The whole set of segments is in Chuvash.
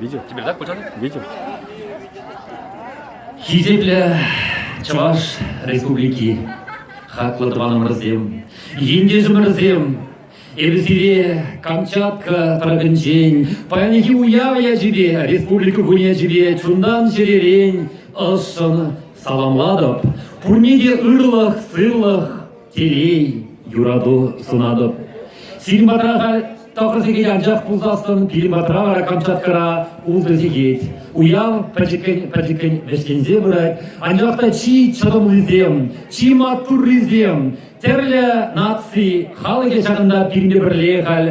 Видел? Теперь так путяны? Видел. Хисеплӗ Чӑваш Республики хаклӑ тӑванӑмӑрсем, ентешӗмӗрсем, эпӗ сире Камчатка тӑрӑхӗнчен паянхи уяв ячӗпе, Республика кунӗ ячӗпе чунтан чӗререн ӑшшӑн саламлатӑп. Пурне те ырлӑх, сывлӑх, Телей, юрату сунатӑп. Сирӗн патра халь тӑхӑр сехет анчах пулсассӑн, пирӗн патра вара Камчаткӑра ултӑ сехет. Уяв пӗчӗккӗн-пӗчӗккӗн вӗҫленсе пырать, анчах та чи чӑтӑмлисем, чи маттуррисем, тӗрлӗ наци халӑхӗ ҫакӑнта пирӗнпе пӗрле халь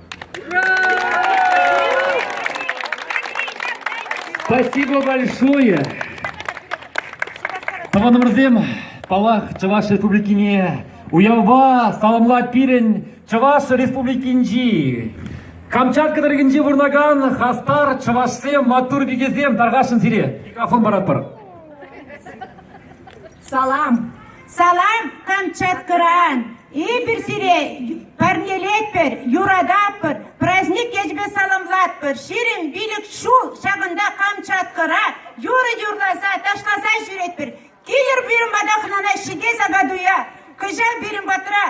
Спасибо большое! Тӑванӑмӑрсем, паллах, Чӑваш Республикине уявпа саламлать пирӗн Чӑваш Республикинчи Камчатка тӑрӑхӗнче пурӑнакан хастар чӑвашсем, маттур пикесем, тархасшӑн сире микрофон паратпӑр. Салам! Салам Камчаткӑран! Эпир сире парнелетпӗр, юрататпӑр, праздник ячӗпе саламлатпӑр. Ҫирӗм пилӗк ҫул ҫакӑнта Камчаткӑра юрӑ юрласа, ташласа ҫӳретпӗр. Килӗр пирӗн пата хӑнана ҫитес апат-уя. Кӑҫал пирӗн патра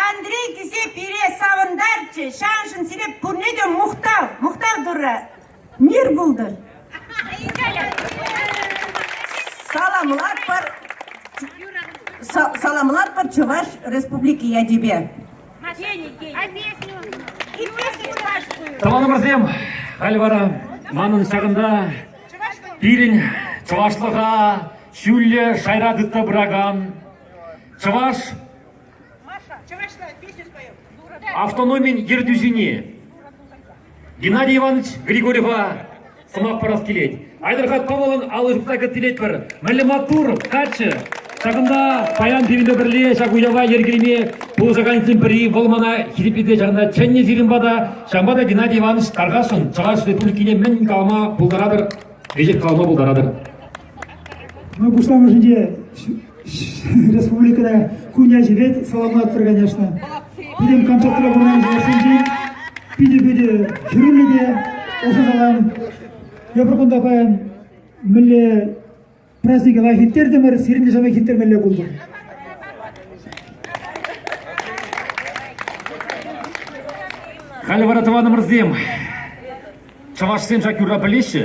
Андрей кӗсе пире савӑнтарчӗ. Ҫаншӑн сире пурне те мухтав, мухтав Турра, мир пултӑр. Саламлатпӑр, саламлатпӑр Чӑваш Республики ячӗпе. Тӑванӑмӑрсем, халь вара манӑн ҫакӑнта пирӗн чӑвашлӑха ҫӳллӗ шайра тытса пыракан чӑваш Автономин ертӳҫине Геннадий Иванович Григорьева сӑмах парас килет. Айтӑрхат Павловӑн алӑ ҫупса кӗттеретпӗр. Мӗнле маттур, каччӑ! Ҫакӑнта паян пирӗнпе пӗрле ҫак уява йӗркелеме пулӑшакансен пӗри вӑл мана хисеплесе чарнӑ чӗннӗ сирӗнпа та, ҫавӑнпа та Геннадий Иванович тархасшӑн Чӑваш Республикине мӗн калама пултаратӑр, веҫех калама пултаратӑр. Ман пуҫламӑшӗнче республикӑра кун ячӗпе саламлатпӑр, конечно. Пирӗн Камчатра пурӑнакан чӑвашсенчен питӗ питӗ хӗрӳллӗ те ӑшӑ салам. Эпир кунта паян мӗнле празднике лайӑх ирттертӗмӗр, сирӗн те ҫавна ирттермелле пултӑр. Халӗ вара тӑванӑмӑрсем, чӑвашсем ҫак юрра пӗлеҫҫӗ.